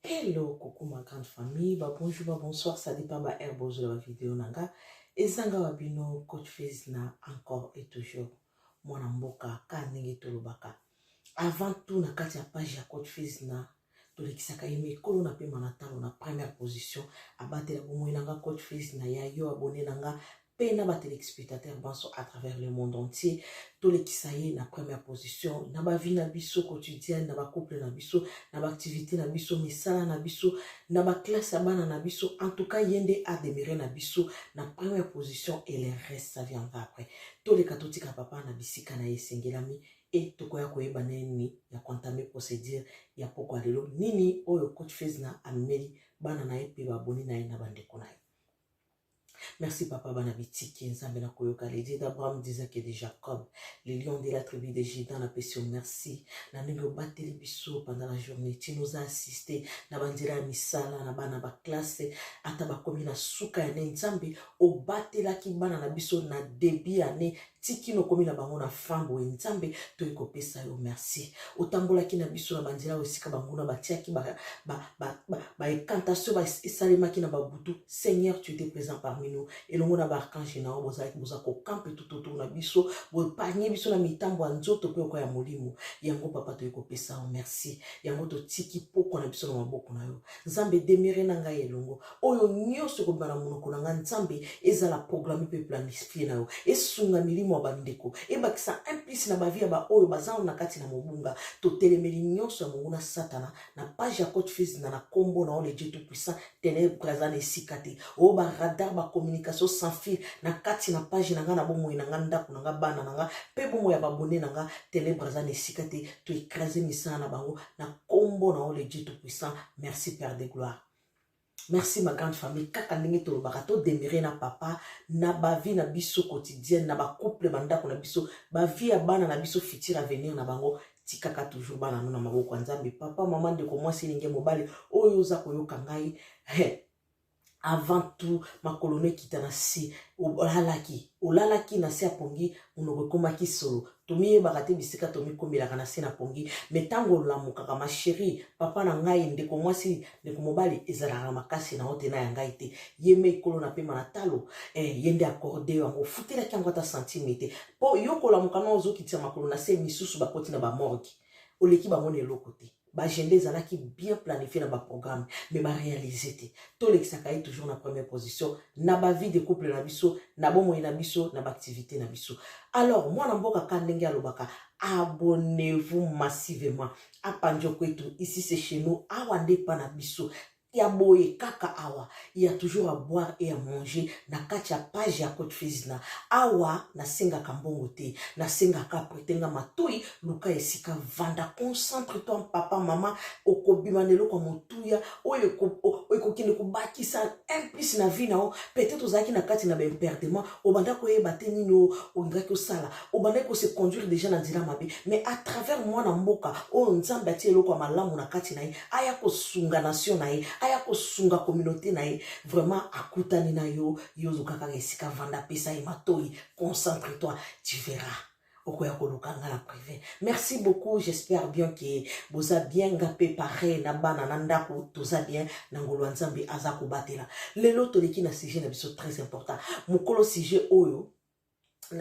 Hello, coucou ma grande famille, ba bonjour, ba bonsoir, ça dépend ba air bozo la vidéo nanga. Ezanga wa bino coach Fizz na encore et toujours mwana mboka ka ndenge tolobaka. Avant tout na kati ya page ya coach Fizz na tolekisaka ye mikolo na pema na ntango na première position abatela bomoi na nga coach Fizz na ya yo abone na nga mpe na ba telespectateurs banso à travers le monde entier tolekisa ye na première position na bavie na biso quotidienne na bacouple na biso na baactivité na biso misala na biso na baklasse ya bana na biso en tout cas ye nde ademeure na biso na première position et le reste ça viendra après toleka totika papa na bisika na ye esengelami e tokoya koyeba na nini ya kontame procédure ya pokwa lelo nini oyo coach fezna amemeli bana na ye mpe baboni na ye na bandeko na ye Merci papa bana bitiki nzambe na koyoka le dieu d'Abraham d'Isaac et de Jacob le lion de la tribu de Juda na pesi merci na ndenge obateli biso pendant la journée ti nous a assisté na banzela ya misala na bana ba classe ata bakomi na suka ya ne nzambe obatelaki bana na biso na début année ti kino okomi na bango na fin boye nzambe toye kopesa yo merci otambolaki na biso na banzela oyo esika banguna batiaki baekantation esalemaki na babutu seigneur tu étais présent parmi nous elongo na baarkange na yo bozalaki boza kokampe tutotour na biso boepargne biso na mitambo ya nzoto mpe oko ya molimo yango papa toye kopesa yo merci yango totiki pokwa na biso na maboko na yo nzambe demire na ngai elongo oyo nyonso ekobima na monoko na ngai nzambe ezala programe mpe planifie na yo esunga milimo ya bandeko ebakisa implice na bavi ya baoyo bazana na kati na mobunga totelemeli nyonso ya monguna satana na page ya cote fils na na nkombo na yo le dieu tout puissant tenebre aza na esika te oyo oh, baradar bacommunication sans fil na kati na page na ngai na bomoi na ngai ndako na ngai bana na ngai mpe bomoi ya babone na ngai tenebre aza na esika te toekrase misala na bango na nkombo na yo le dieu tout puissant merci père de gloire merci ma grande famille kaka ndenge tolobaka todemire na papa na bavie na biso quotidienne na bacouple bandako na biso bavie ya bana na biso futur avenir na bango tikaka toujours bana no na maboko ya nzambe papa mama ndeko mwasi elingi mobali oyo oza koyoka ngai avant tout makolo no ekita na se olalaki olalaki na se ya pongi monoko ekomaki solo tomiyebaka te bisika tomikomelaka na se na pongi me ntango olamukaka ma sheri papa na ngai ndeko mwasi ndeko mobali ezalaka na makasi na ote na ya ngai te ye me ekolo na pema na talo eh, ye nde akorde yo yango ofutelaki yango ata santime te mpo yo kolamuka na ozokitisa makolo na se misusu bakoti na bamorgi oleki bango na eloko te B'agenda ezalaki bien planifier na ba programme mais ba realiser te. Tolekisaka ye toujours na première position na ba vie de couple na biso, na bomoi na biso, na b'activite na biso. Alors mwana mboka ka ndenge alobaka abonnez-vous massivement. Apa Ndjokwetu ici c'est chez nous, awa nde epa na biso. ya boye kaka awa ya toujours à boire et à manger na kati ya page ya cote fizna awa nasengaka mbongo te nasengaka pretenga matoi luka esika vanda concentre toi papa mama okobima na eloko ya motuya oyo ekokende kobakisa implice na vie na yo peut-être ozalaki na kati na baimperdement obandaki koyeba te nini oyo olingaki osala obandaki kose conduire déjà na nzela mabe mais à travers mwana mboka oyo nzambe atia eloko ya malamu na kati na ye aya kosunga nation na ye aya kosunga communauté na ye vraiment akutani na yo yo oluka kaka esika vanda apesa ye matoi concentre toi tu verras okoya koluka nga na privé merci beaucoup j'espère bien ke boza bien nga mpe pareil na bana na ndako toza bien na ngolu ya nzambe aza kobatela lelo toleki na sujet na biso très important mokolo sujet oyo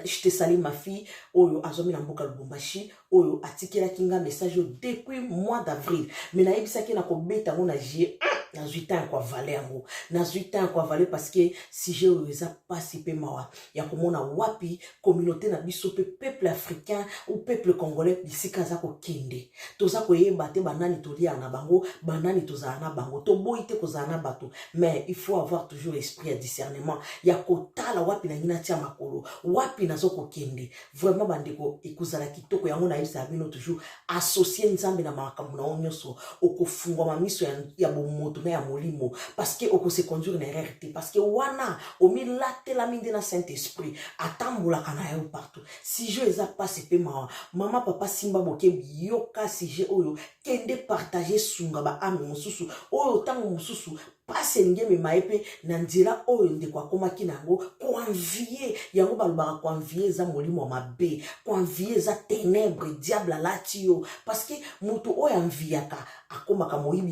je te salue ma fille oyo azwami na mboka lubumbashi oyo atikelaki nga message oyo depuis mois d'avril mais nayebisaki na kobeta yango na jie nazwi ntango ya koavale yango nazwi ntango ya koavale parceke sujet oyo eza mpasi mpe mawa ya komona wapi communauté na biso mpe peuple africain ou peuple congolais bisika aza kokende toza koyeba te banani toliaka na bango banani tozala na bango toboyi te kozala na bato mais il faut avoir toujours esprit ya discernement ya kotala wapi nangi natia makolo wapi nazo kokende vraiment bandeko ekozala kitoko yango nayebisaka bino toujours associe nzambe na makambo na yo nyonso okofungwama miso ya, ya bomoto na ya molimo parce que okose conduire na erreur te parce que wana omilatelami nde na saint esprit atambolaka na yo partout sujet eza mpasi mpe mawa mama papa simba bokebi yoka sujet oyo kende partage sunga ba ame mosusu oyo ntango mosusu mpasi elingi emema ye mpe na nzela oyo ndeko akomaki na yango koanvie yango balobaka koanvie eza molimo ya mabe koanvie eza tenebre diable alati yo parceke moto oyo anviyaka akomaka moyibi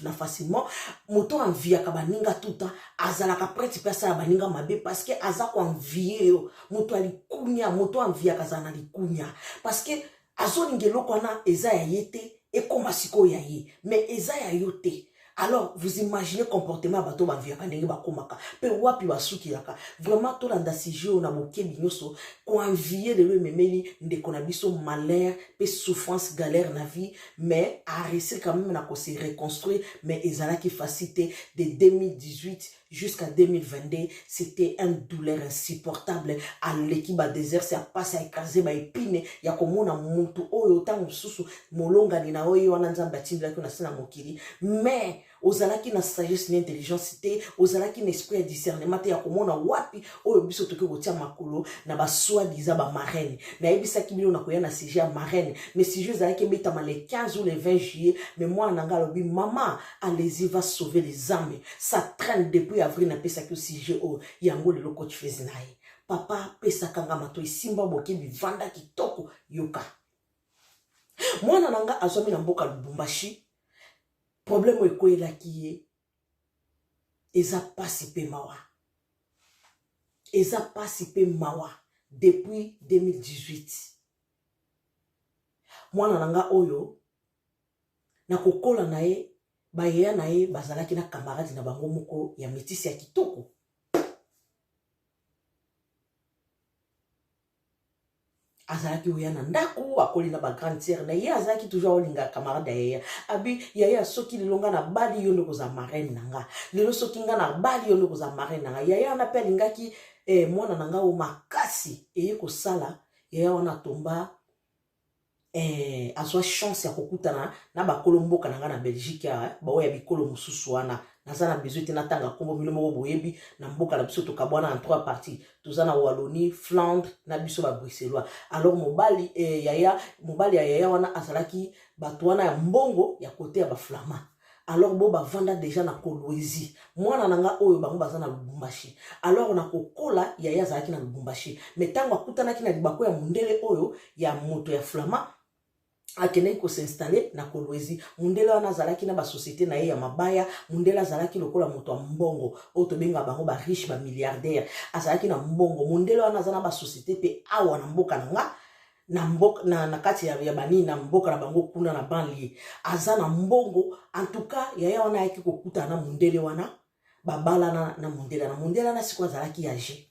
na facilement moto oyo anviyaka baninga tuta azalaka prete mpe asala baninga mabe parceke aza koanvie yo moto ya likunia moto oyo anviyaka azala na likunia parceke azolinga eloko wana eza ya ye te ekoma sikoyo ya ye mais eza ya yo te alors vous imaginez comportement ya bato baviyaka ndenge bakomaka mpe wapi basukilaka vraiment tolanda sujet oyo na bokebi nyonso koinvie lelo ememeli ndeko na biso malheur mpe souffrance galère na vie mais aresir quand même na kose reconstruire mais ezalaki facile te de 2018 jusqu'à 2022 c'était un douleur insupportable aleki badésert se apasi aekrase baepine ya komona motu oyo ntango mosusu molongani na yo ye wana nzambe atindelaki na se na mokili mais ozalaki na sagesse na intelligence te ozalaki na esprit ya discernement te ya komona wapi oyo biso tokoki kotia makolo na basoi diza bamarraine nayebisaki bino nakoya na sujet ya marraine mais sujet ezalaki ebetama le 15 ou le 20 juillet mais mwana na ngai alobi mama Allez-y va sauver les âmes. Ça traîne depuis avril na pesa ki sujet o yango le loko tu fais nae. Papa pesa kanga mato isimba boki bivanda kitoko yoka. Mwana nanga azomi na mboka Lubumbashi. Problème o ekoyela ki ye. Eza pasi pe mawa. Eza pasi pe mawa depuis 2018. Mwana nanga oyo na kokola na ye bayeya na ye bazalaki na kamaradi na bango moko ya metisi ya kitoko azalaki oya na ndako akoli na bagrande sere na ye azalaki toujours aolinga camarade ya yaya abi yaya soki lelo nga na bali yo nde kozala marraine na nga lelo soki nga na bali yo nde kozala marraine na nga yaya wana mpe alingaki eh, mwana na nga o makasi eye kosala yaya wana atomba eh, azwa chance ya kokutana na bakolo mboka na ngai na belgique awa eh, baoyo ya bikolo mosusu wana naza na besoin te natanga nkombo bino moko boyebi na mboka na biso tokabwana na trois parties toza na wallonie flandre na biso babruxellois alors mobali eh, yaya mobali ya yaya wana azalaki bato wana ya mbongo ya kote ya baflamand alors bo bavanda deja na kolwezi mwana na nga oyo bango baza na lubumbashi alors na kokola yaya azalaki na lubumbashi me ntango akutanaki na libako ya mondele oyo ya moto ya flama akendaki kosinstalle na kolwezi mondele wana azalaki na basosiete na ye ya mabaya mondele azalaki lokola moto ya mbongo oyo tobenga bango bariche bamilliardaire azalaki na mbongo mondele wana aza na basosiete mpe awa na mboka na nga na mboka na, na kati ya, ya banini na mboka na bango kuna na banlie aza na mbongo antuka yaya wana ayaki kokutana na mondele wana babalana na mondele na mondele wana siko azalaki ya je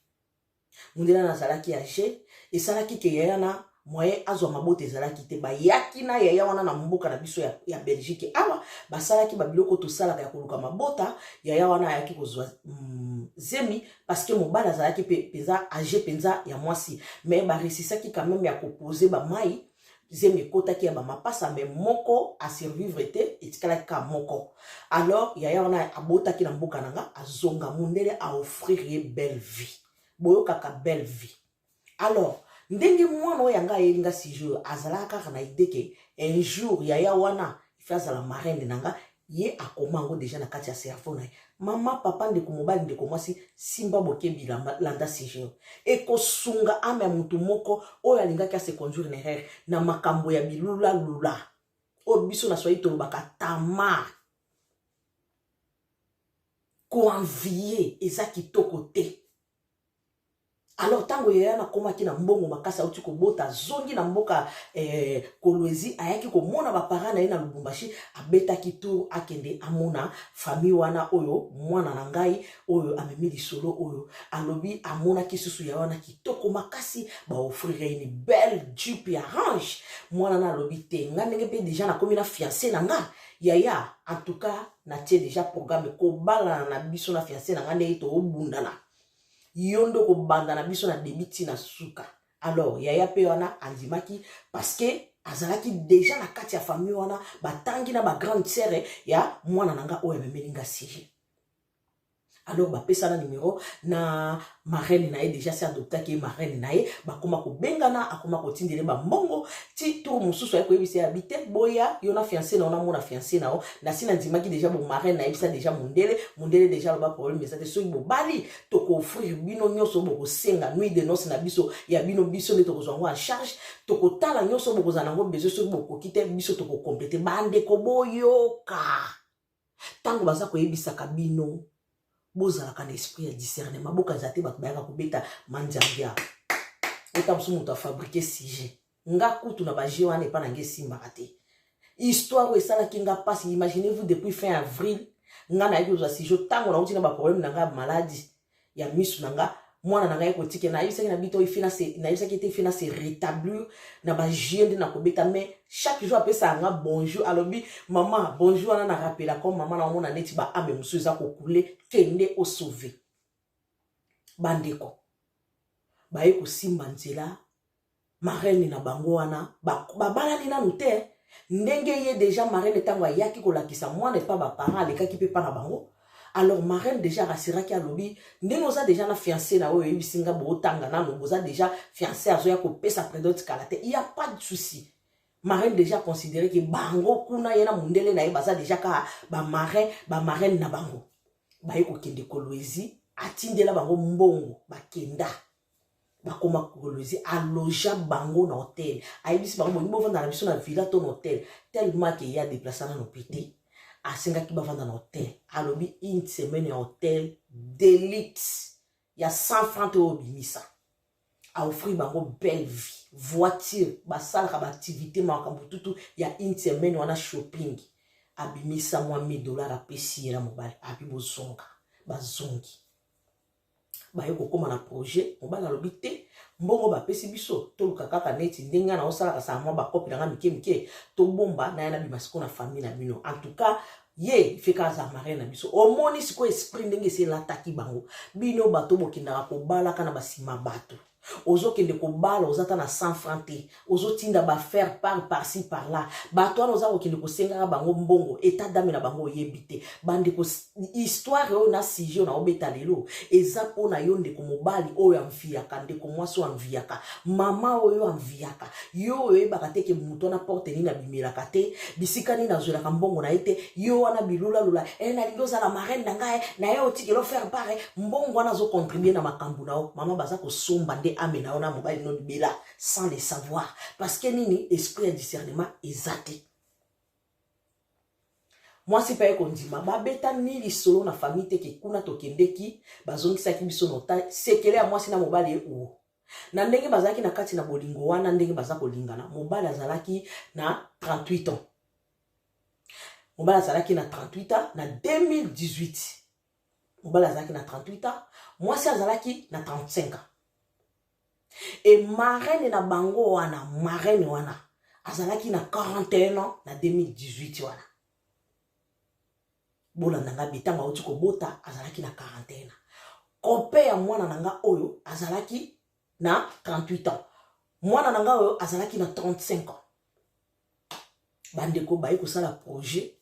mondele wana azalaki ya je esalaki ke yaya na moyen azwa mabota ezalaki te bayaki na yaya wana na mboka na biso ya, ya belgique awa basalaki babiloko tosalaka ya koluka mabota yaya wana ayaki kozwa mm, zemi parce que mobali azalaki mpenza age mpenza ya mwasi mais baresisaki quand même ya kopose bamai zemi ekotaki ya bamapasa me moko asurvivre te etikalaki kaka moko alors yaya wana abotaki na mboka na nga azonga mondele aoffrir ye belle vie boyokaka belle vie alors ndenge mwana oyo yanga ayeli nga sujet oyo azalaka kaka na idee ke un jour yaya wana ife azala marraine na nga ye akoma yango deja na kati ya cerveau na ye mama papa ndeko mobali ndeko mwasi simba bokebi landa sujet oyo ekosunga ame ya motu moko oyo alingaki ase conduire na erreur na makambo ya bilulalula oyo biso na swahili tolobaka tamar koenvie eza kitoko te alors ntango yaya nakomaki na mbongo makasi auti kobota azongi na mboka eh, kolwezi ayaki komona bapara na ye na lubumbashi abetaki tour akende amona famille wana oyo mwana na ngai oyo amemi lisolo oyo alobi amonaki susu ya wana kitoko makasi baofrire ye ni belle jupe ya range mwana na alobi te nga ndenge mpe deja nakomi na fiance na nga yaya en tout cas natie deja programme kobalana na biso na fianse na ngai ndenge toobundana yo nde okobanda na biso na debi ti na suka alors yaya mpe wana andimaki parceke azalaki deja na kati ya famille wana batangi na bagrande sere ya mwana na ngai oyo amemeli ngai siri alors bapesana numero na marraine na ye déjà se adoptaki ye marraine na ye bakoma kobengana akoma kotindele bambongo ti tour mosusu aye koyebisa ya bite boya yo na fiance na yo namona fiance na yo nasi nandimaki déjà bomarraine nayebisa déjà mondele mondele déjà aloba problème eza te soki bobali tokoofrir bino nyonso bokosenga nuit de noce na biso ya bino biso nde tokozwa yango en charge tokotala nyonso bokozala yango besoin soki bokoki te biso tokokomplete bandeko boyoka ntango baza koyebisaka bino bozalaka na esprit ya discernement bokanisa te bato bayaka kobeta mandiandia ota mosusu moto afabrike sujet nga kutu na baje wana epa na nge esimbaka te histoire oyo esalaki nga mpasi imaginez vous depuis fin avril nga nayaki kozwa sujet ntango nauti na baproblème na nga ya maladi ya misu na nga mwana na ngai kotika nayebisaki na bito nayebisaki ete fina se rétablir na bajeu nde nakobeta mais chaque jour apesa yanga bonjour alobi mama bonjour wana na rapela comme mama na omona neti baame mosusu eza kokule kende osauve bandeko baye kosimba nzela Marraine na bango wana babalani ba nanu te ndenge ye deja marraine ntango ayaki kolakisa mwana epa baparent alekaki mpe epa na bango alors marraine deja arasiraki alobi ndenge oza deja na fiance na oyo oyebisi nga bootanga nanu boza deja fiance azoya kopesa predote kala te ya pas de souci marraine deja considere ke bango kuna ye na mondele na ye baza deja kaka bamarin bamarraine na bango baye kokende koloezi atindela bango mbongo bakenda bakoma kolwezi aloja bango na hotel ayebisi bango bolingi bovanda na biso na villa to na hotel tellement ke ye adeplasa nano mpe te asengaki bavanda na hotel alobi une semaine ya hotel delite ya 100 franc to obimisa aoffrir bango belle vie voiture basalaka baaktivité makambo tutu ya une semaine wana shopping abimisa mwa 1000 dollar apesi ye na mobali abi bozonga bazongi baye kokoma na projet mobali alobi te mbongo bapesi biso toluka kaka neti ndenge nga naosalaka saa mwa bakopi na nga mike mike tobomba naya na bima siko na famille na bino en tout cas ye feka aza marie na biso omoni sikoyo esprit ndenge esi elataki bango bino bato bokendaka kobalaka na basima bato ozokende kobala oza ata na 100 franc te ozotinda bafaire par parci par là bato wana oza kokende kosengaka bango mbongo etat dame na bango oyebi te bandeko histoire oyo na sujet oyo naobeta lelo eza mpo na yo ndeko mobali oyo amviyaka ndeko mwasi oyo amviyaka mama oyo amviyaka yo oyebaka te ke moto wana porte nini abimelaka te bisika nini azwelaka mbongo na ye te yo wana bilulalula e eh, nalingi ozala marraine na ngai eh, na ye otikelo faire pare eh. mbongo wana azocontribue na makambo na yo mama baza kosomba nde ame na yo na mobali no libela sans le savoir parce que nini esprit ya discernement eza te mwasi mpe aye kondima babeta ni lisolo na famille te ke kuna tokendeki bazongisaki biso nota sekele ya mwasi na mobali ye uo na ndenge bazalaki na kati na bolingo wana ndenge baza kolingana mobali azalaki na 38 ans mobali azalaki na 38 ans na 2018 mobali azalaki na 38 ans mwasi azalaki na 35 ans e marraine na bango wana marraine wana azalaki na 41 ans na 2018 wana bolanda nga bi ntango auti kobota azalaki na quarantaine kope ya mwana na nga oyo azalaki na 38 ans mwana na nga oyo azalaki na 35 ans bandeko baye kosala projet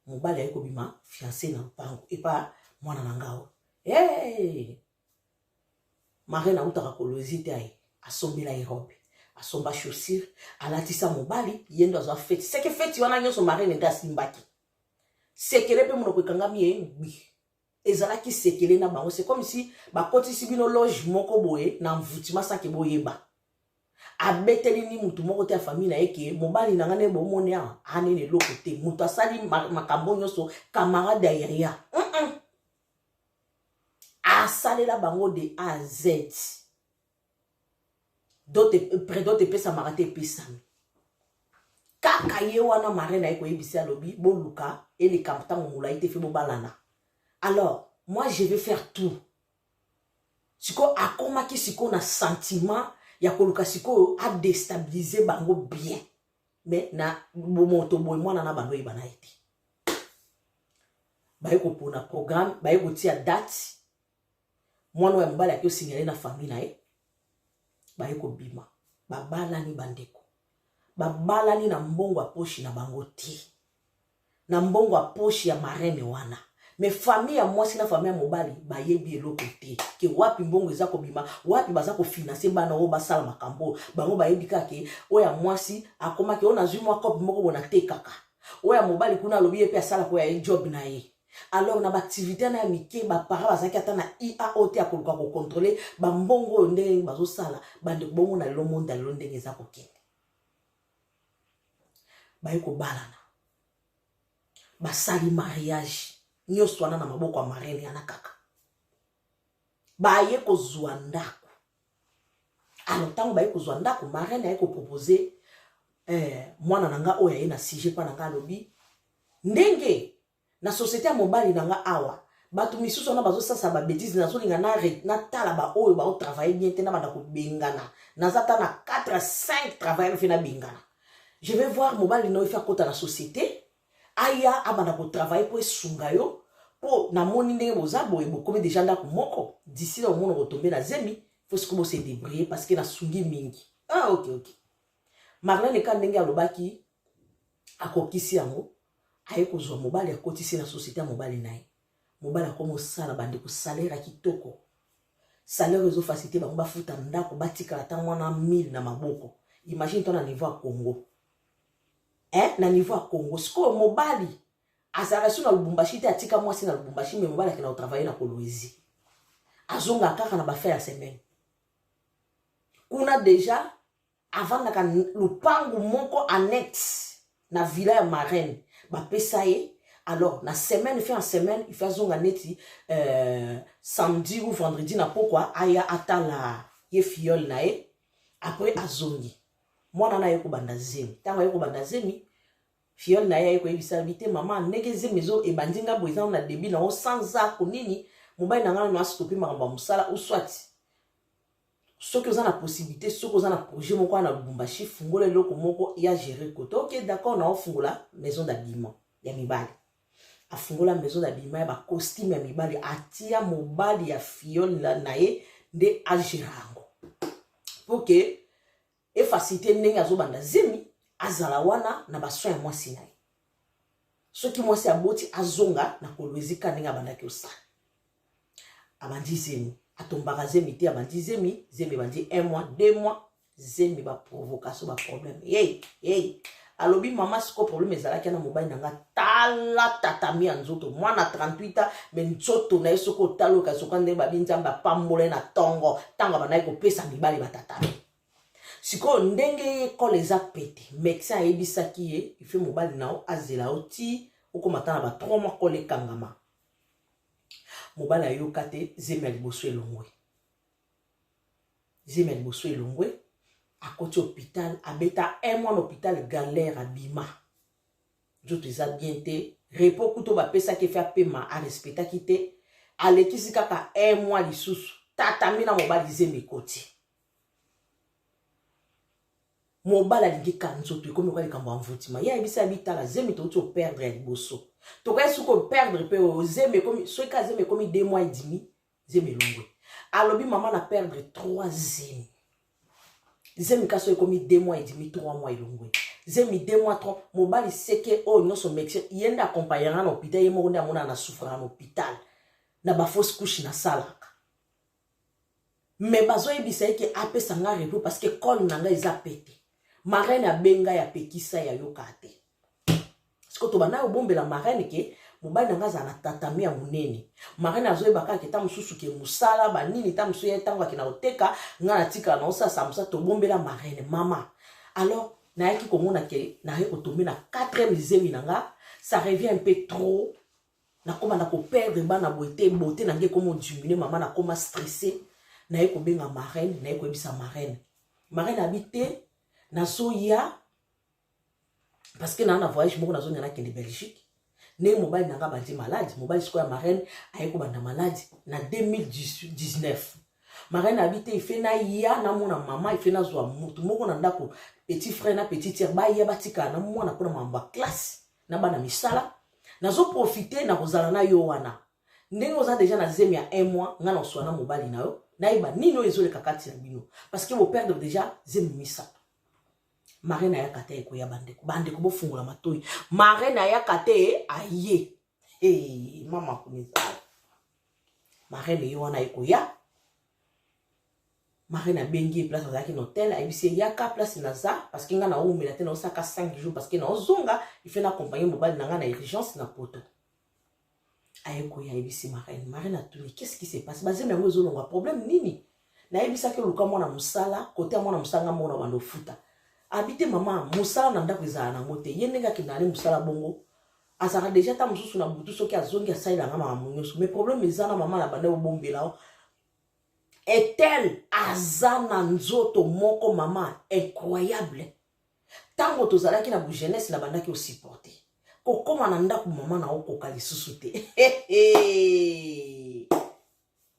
mobali aye kobima fiance na mpango epa mwana na nga oyo hey! marine autaka kolozi te aye asombela ye robe asomba chaussure alatisa mobali ye ndo azwa feti seke feti wana nyonso marine nde asimbaki sekele mpe monoko ekangami ye ngbi ezalaki sekele na bango c'est comme si bakotisi bino loge moko boye na mvutima sake boyeba abeteli ni motu moko te ya famille na ye ke mobali na ngai nde bomoni awa anene eloko te moto asali makambo nyonso camarade ya yaya mm -mm. asalela bango de a z dote epesamaka te epesami kaka ye wana mare na ye koyebisi alobi boluka eleka ntango molai te fe bobalana alors moi je vais faire tout sikoyo akomaki sikoyo na sentiment ya koluka sikoyo adestabilize bango bien me na bomoto boye mwana na bango oyeba na ye te baye kopona programme baye kotia date mwana ya mobali ake osinyale na famille na ye baye kobima babalani bandeko babalani na mbongo ya poshi na bango te na mbongo ya poshi ya marene wana me famille ya mwasi na famille ya mobali bayebi eloko te ke wapi mbongo eza kobima wapi baza kofinanse bana oyo basala makambo bango bayebi kaka ke oyo ya mwasi akomaki oyo nazwi mwa cope moko bona te kaka oyo ya mobali kuna alobi ye mpe asalaka oyo ya ye job na ye alors na baactivité wana ya mike bapara bazalaki ata na iao te ya koluka kokontrole bambongo oyo ndenge nini bazosala bandeko bongo na lelo monde ya lelo ndenge eza kokende baye kobalana basali mariage nyonso wana na maboko ya marene yana kaka baye kozwa ndako alors ntango baye kozwa ndako marraine aye kopropose eh, mwana na nga oyo aye na sujet mpo na nga alobi ndenge na société ya mobali na nga awa bato misusu wana bazosasa babetise nazolinga natala baoyo baotravaille bien te nabanda kobengana naza ta na 4 5 travailleur mpe nabengana je vais voir mobali na yo efe akota na société aya abanda kotravaille mpo esunga yo mpo namoni ndenge boza boye bokomi deja ndako moko disi na omona kotombe na zemi fo siko bose debrie parce que nasungi mingi ah, ok ok marlene eka ndenge alobaki akokisi yango aye kozwa mobali akotisi na société ya mobali na ye mobali akoma osala bandeko salere ya kitoko salere ezofasite bango bafuta ndako batikala ntango wana 1000 na maboko imagine to na niveau ya congo eh, na niveau ya congo sikoyo mobali azalaka so na lubumbashi te atika mwasi na lubumbashi me mobali akenda kotravaille na kolwezi azonga kaka na bafin ya semaine kuna deja avandaka lupangu moko annexe na villa ya marraine bapesa ye alors na semaine fin ya semaine ife azonga neti euh, samedi ou vendredi na pokwa aya atala ye fiole na ye après azongi mwana na ye kobanda zemi ntango aye kobanda zemi fiole na ye aye koyebisa yabi te mama ndenge zemi ezo ebandi nga boye eza na debi na yango sans ako nini mobali na ngai nano astope makambo ya mosala uswati soki oza na possibilité soki oza na projet moko wana na lubumbashi fungola eloko moko ya gérer kote oke d'accord na ofungola maison d'habillement ya mibali afungola maison na bima ya ba costume ya mibali atia mobali ya fiole na, na ye nde agera yango mpo ke efacilite ndenge azobanda zemi azala wana na basoin ya mwasi na ye soki mwasi aboti azonga na kolwezika ndenge abandaki osala abandi zemi atombaka zemi te abandi zemi zemi ebandi 1 mois 2 mois zemi ba provocation ba problème hey hey alobi mama siko problème ezalaki na mobali na nga tala tatami ya nzoto mwana 38 ans me nzoto na ye soki otali oyo kasoka ndenge babi nzambe apambola ye na ntongo ntango abandaki kopesa mibali batatami sikoyo ndenge ye ekole eza pete médecin ayebisaki ye ife mobali na yo azela yo ti okomata na ba 3 mois kole ekangama mobali ayoka te zemi ya liboso elongwe zemi ya liboso elongwe akoti hôpital abeta un mois na hôpital galère abima nzoto eza bien te repos kuto bapesaki efe apema arespectaki te alekisi kaka un mois lisusu tatami na mobali zemi ekoti mobali alingi ka nzoto ekomi oka likambo ya mvutima ye ayebisi ya bitala zemi touti operdre ya liboso tokai soki operdre mpe oyo zemi ekomi soki ka zemi ekomi de mois edimi zemi elongwe alobi mama na perdre 3 zemi zemi kasi oyo ekomi 2 mois edimi 3 mois elongwe zemi 2 mois 3 mobali seke oyo nyonso mexe ye nde akompagnaka na hôpital ye moko nde amonaka na souffraka na hôpital na bafausse couche nasalaka me bazoyebisa ye ke apesa nga repos parce que cole na nga eza pete marraine abenga ya pekisa ya yoka te sikoyo tobanda kobombela marraine ke mobali na ngai azala na tatami ya monene marraine azoyeba kaka ke ntango mosusu ke mosala banini ntango mosusu ye ntango akenda koteka ngai natikala na osala saa mosala tobombela marraine mama alors nayaki komona ke naye kotombe na 4 lizemi na ngai ça revient un peu trop nakoma na koperdre bana boye te bote na ngai ekoma odimine mama nakoma stresse naye kobenga marraine naye koyebisa marraine marraine abi te nazoya parce que na na voyage moko nazonga na kende Belgique ndenge mobali na nga bandi malade mobali sikoyo ya marraine aye kobanda malade na 2019 marraine abi te ife naya namona mama ife nazwa motu moko na ndako petit frère na petit tiere baya batikala na mwana mpona mambo ya classe na bana misala nazoprofite na kozala na yo wana ndenge oza deja na zemi ya un mois ngai naoswa na mobali na yo nayeba nini oyo ezoleka kati na bino parce que boperdre deja zemi misato mare na yaka te ekoya bandeko bandeko bofungola matoi mare na yaka te aye hey, mama kunezala mare na ye wana ekoya mare nabengi ye place azalaki na hotel ayebisi ye yaka place naza parceke ngai naumela te naosaka 5 jours parceke naozonga ife na accompagne mobali na ngai na urgence na poto aye koya ayebisi marine marine atuni qu'est ce qui se passe bazemi yango ezolongwa problème nini nayebisaki oluka mwana mosala kote ya mwana mosala nga moko na banda ofuta abi te mama mosala na ndako ezala nango te ye ndenge akendaka ne mosala bongo azalaka deja ta mosusu na butu soki azongi asalelanga makambo nyonso mais problème eza na mama na banda obombela o etel aza na nzoto moko mama incroyable Tango tozalaki na bu jeunesse na bandaki o supporter. Kokoma na ndaku maman na okoka lisusu te.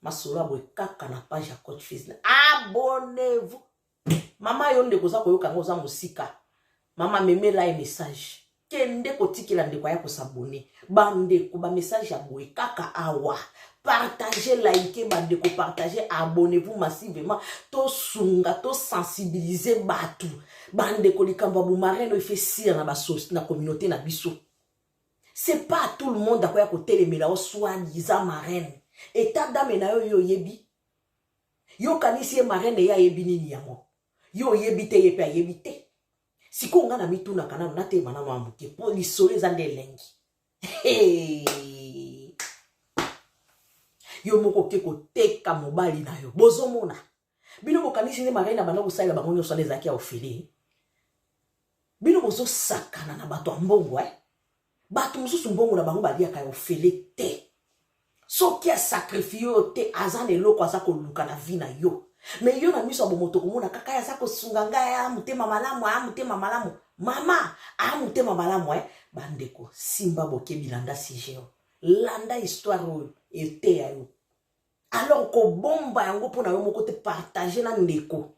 Masolo abwe kaka na page ya coach Fils. Abonnez-vous. Mama yo nde koza koyoka ngo za musika. Mama memela ye message. kende kotikela ndeko aya kosabone bandeko bamessage ya boye kaka awa partage like bandeko partage abonnez-vous massivement tosunga tosensibilize bato bandeko likambo ya bomareno efe sire na basosi na communauté na biso c'est pas tout le monde akoya kotelemela o soi-disant marraine etat dame na yo yo oyebi yokanisi ye marraine ye ayebi nini yango yo oyebi te ye mpe ayebi te sikoyo ngai namitunaka nano natema nano ya moke mpo lisolo eza nde elengi yo moko oke koteka mobali na yo bozomona bino bokanisi nde marai na banda kosalela bango nyonso wana ezalaki ya ofele bino bozosakana na bato ya mbongo eh? Bato mosusu mbongo na bango baliaka ya ofele te. Soki asakrifie yo te, aza na eloko aza koluka na vi na yo. Me yo na miso ya bomoto komona kaka ye aza kosunga ngai aya motema malamu, aya motema malamu. Mama, aya motema malamu eh. Bandeko, simba bokebi landa sijeo. Landa histoire oyo, eteya yo. alors kobomba yango mpo na yo moko te partage na ndeko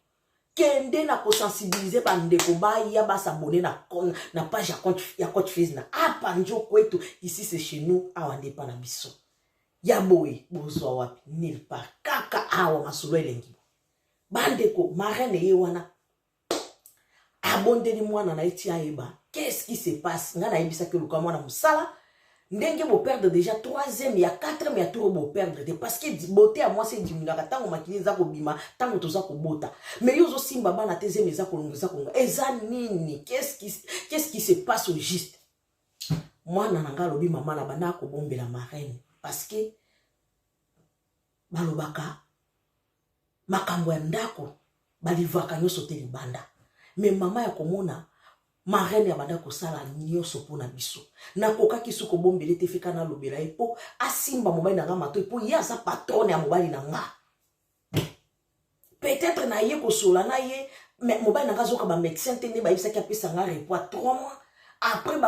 kende na kosensibilize bandeko baya basabone na, na page ya compte, ya compte face na apa njo kwetu ici c'est chez nous awa nde epa na biso ya boye bozwa wapi nil par kaka awa masolo elengi bandeko marraine ye wana abondeli mwana na ye ti ayeba qu'est-ce qui se passe ngai nayebisaki oluka mwana mosala ndenge boperdre déjà troisième ya quatrième ya tour boperdre te parce que bote ya mwasi edimingaka ntango makili eza kobima ntango toza kobota mais yo ozosimba bana te zemi eza kolonga eza kolonga eza nini qu'est-ce qui se passe au juste mwana na ngai alobi mama na banda akobombela marraine parce que balobaka makambo ya ndako balivaka nyonso te libanda me mama ya komona marraine ya banda kosala nyonso mpo na biso nakokaki su kobombele te fika nalobela ye mpo asimba mobali na nga matoi mpo ye aza patrone ya mobali na nga peut-être naye kosola na ye mobali na nga azoka bamédecin te nde bayebisaki apesa nga repo ya 3 mois après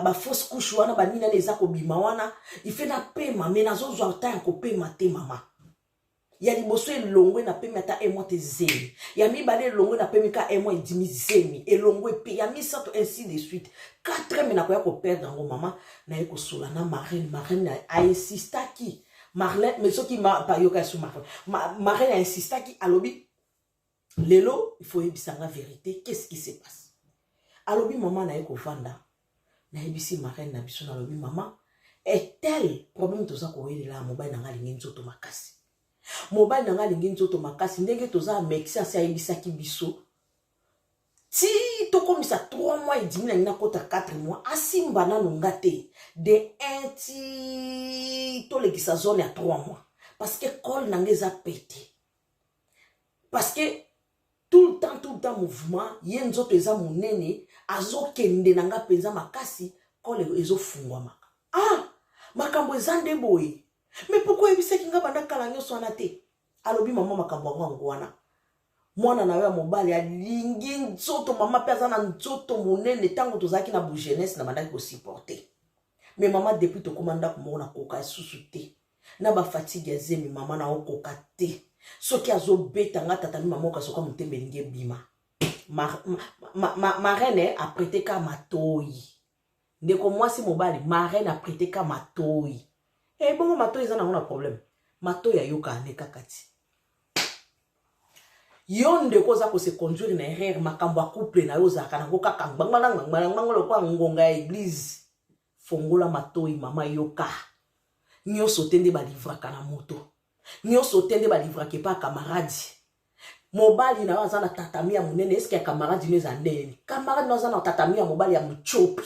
bafausse couche wana banini ana eza kobima wana ife napema me nazozwa ntan ya kopema te mama ya liboso elongwe na pemi ata emwa te zemi ya mibale elongwe na pemi ka emwa edimi zemi elongwe mpe ya misato ainsi de suite quatreme nakoya koperdre yango mama naye kosola na marine marine ainsistaki marlene me soki bayoka ya su marine marine ainsistaki alobi lelo il faut yebisa nga verite qu'est-ce qui se passe alobi mama na ye kovanda nayebisi marraine na biso nalobi mama etel problème toza kowelela mobali na nga alingi nzoto makasi mobali na nga alingi nzoto makasi ndenge toza amekisi asi ayebisaki biso ti tokomisa 3 mois edimi na ngi nakota 4 mois asimba nano nga te de 1 ti tolekisa zone ya 3 mois parce que cole na nga eza pete parce que tout le temps tout le temps mouvement ye nzoto eza monene azokende na nga mpenza makasi kole ezofungwamaka ah makambo eza nde boye me poko oyebisaki nga banda kala nyonso wana te alobi mama makambo yango yango wana mwana na yo ya mobali alingi nzoto mama mpe aza na nzoto monene ntango tozalaki na bogenese na bandaki kosupporte me mama depuis tokóma ndako moko nakoka lisusu te na ba fatigue ya zemi mama na okoka te soki azobeta nga tata mi mama okasoka motema elingi ebima marraine eh, aprete ka matoi ndeko mwasi mobali marraine aprete ka matoi ebongo eh, matoi eza nango na problème matoi ayoka ane kaka ti yo ndeko oza kose conduire na erreur makambo ya couple na yo ozalaka nango kaka ngbangbanangbangbanangbango lokola ngonga ya eglise fongola matoyi mama yoka nyonso te nde balivraka na moto nyonso te nde balivraka epa kamaradi mobali na yo aza na tatami ya monene eske ya kamaradi no eza ndeni kamaradi no aza na tatami ya mobali ya motiopi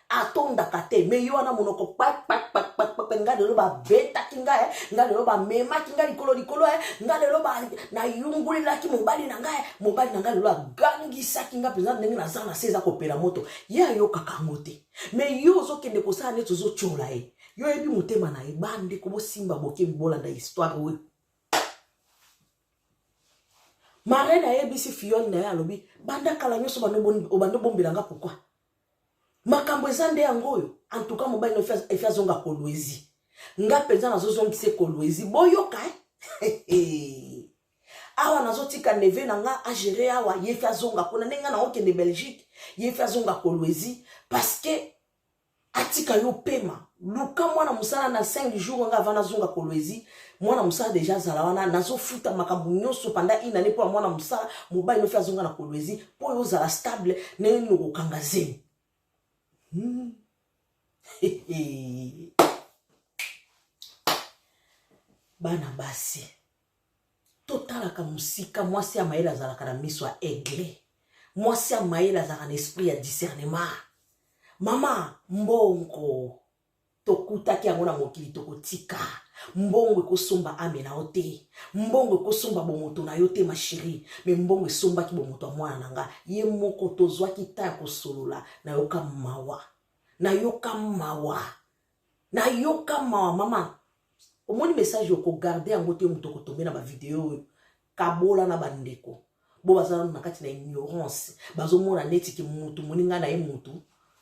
atondaka te me yo wana monoko kpakpakpakpakpakpe nga lelo babetaki nga eh. nga lelo bamemaki nga likolo likolo eh. nga lelo nayungulelaki mobali na nga eh. mobali na nga lelo agangisaki nga mpenza ndenge naza na se eza kopela moto ye ayokaka yango te mais yo ozokende kosala neti ozotyola ye yo oyebi motema na ye bandeko bosimba bokebi bolanda histoire oyo marraine ayebisi fiole na ye alobi banda kala nyonso obanda obombela nga pourkui makambo eza nde yango oyo antuka mobali na efi azonga kolwezi nga mpenza nazozongisa ekolwezi boyoka eh? awa nazotika neve na nga agere awa ye fi azonga kuna ndenge nga naokende belgique ye fi azonga kolwezi parceke atika yo pema luka mwana mosala na 5 jour nga avana azonga kolwezi mwana mosala deja azala wana nazofuta makambo nyonso panda inane mpo ya mwana mosala mobali nofi azonga na kolwezi mpo oyo ozala stable ndenge nini okokanga zemi hmm. bana basi totalaka mosika mwasi ya mayele azalaka na miso ya aigle mwasi ya mayele azalaka na esprit ya discernement mama mbongo tokutaki yango na mokili tokotika mbongo ekosomba ame na yo te mbongo ekosomba bomoto na yo te masheri me mbongo esombaki bomoto ya mwana na nga ye moko tozwaki ta ya kosolola nayoka mawa nayoka mawa nayoka mawa mama omoni message okogarde yango te moto okotombe na bavideo oyo kabola na bandeko bo baza nanu na kati na ignorance bazomona neti ke mutu moninga na ye mutu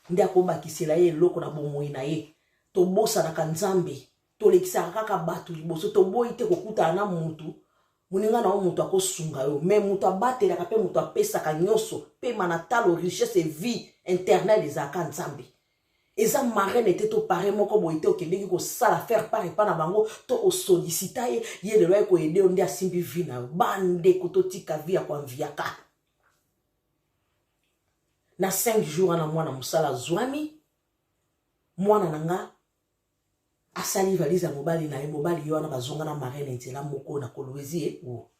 nde akobakisela ye eloko na bomoi na ye tobosanaka nzambe tolekisaka kaka bato liboso toboyi te kokutana na mutu moninga na yo moto akosunga yo me moto abatelaka mpe moto apesaka nyonso mpema na talo richesse vie internel ezalaka nzambe eza marraine te to pare moko boye te okendeki kosala faire part epa na bango to osolisita ye ye lelo aye koyede yo nde asimbi vi na yo bandeko totika vi ya koanviaka na 5 jour wana mwana mosala azwami mwana na nga asali valise ya mobali na ye mobali ye wana bazonga na marraine nzela moko na kolwezi ye o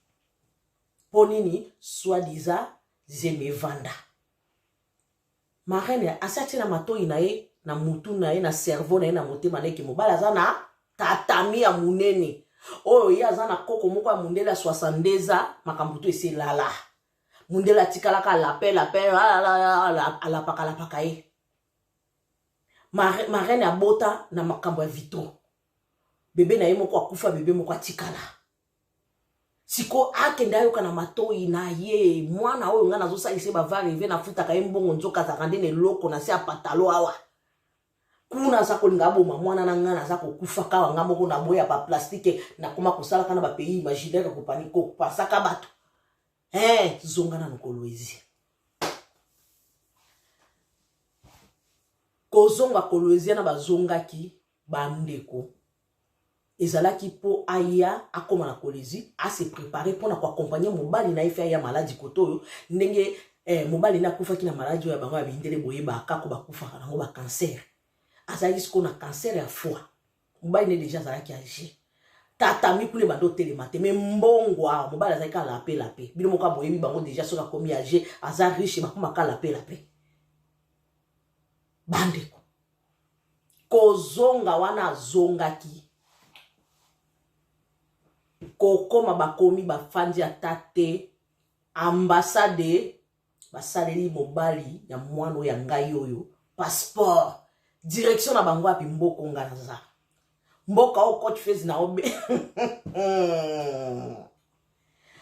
mpo nini swadisa zemevanda Marraine asi atie na matoyi na ye na mutu na ye na cerveau na ye na motema na ye ke mobali aza na tatami ya monene oyo ye aza na koko moko ya mondele ya 62 ans makambo to esi elala mondele atikalaka alape lape alapaka alapaka ye marraine abota na makambo ya vitro bebe na ye moko akufa bebe moko atikala sikoyo akende ayoka na matoi na ye mwana oyo ngai nazosalisa ye bavareve nafutaka ye mbongo nzoka azalaka nde na eloko na se ya patalo awa kuna aza kolinga aboma mwana na ngai naza kokufa kawa ngai moko naboya baplastike nakoma kosalaka na bapays imaginaire kopani kopasaka bato e eh, zonga na mokolo ezi kozonga kolwezia na bazongaki bandeko ezalaki mpo aya akoma na kolezi ase prepare mpo na koakompagne mobali na ye fe aya maladi kote oyo ndenge eh, mobali na akufaki na maladi oyo ya bango ya mindele boye bakako bakufaka nango bakancer azalaki sikoyo na kancer ya foi mobali ne deja azalaki age tata mikule banda otelema te me mbongo awa mobali azalaki kaka lape lape bino moko boyebi bango deja soki akomi age aza riche bakomaka lape lape bandeko kozonga wana azongaki kokoma bakomi bafandi ata te ambasade basaleli mobali ya mwana oyo ya ngai oyo passeport direction na bango api mboko nga naza mboka oyo cote fese na obe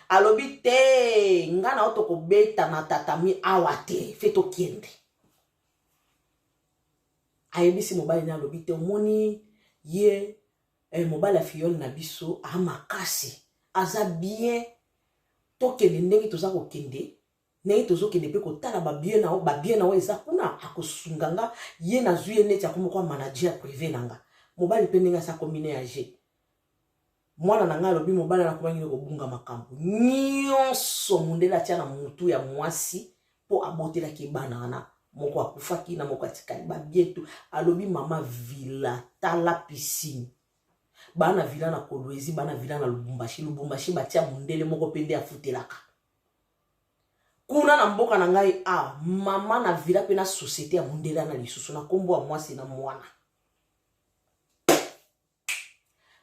alobi te nga na yo tokobeta na tatami awa te fe tokende ayebisi mobali na alobi te omoni ye eh, mobali ya fiyole na biso a makasi aza bien tokende ndenge toza kokende ndenge tozokende mpe kotala babie na yo babie na yo eza kuna akosunga nga ye nazwi ye neti akomoko ya manager privé na nga mobali mpe ndenge asi akomi na ya je mwana na ngai alobi mobali wana akomaki nde kobunga makambo nyonso mondele atya na motu ya mwasi mpo abotelaki bana wana moko akufaki na moko atikali babietu alobi mama vila tala pisine bana vila na kolwezi bana vila na lubumbashi lubumbashi batya mondele moko mpe nde afutelaka kuna na mboka na ngai a ah, mama na vila mpe na societe ya mondele na lisusu na nkombo ya mwasi na mwana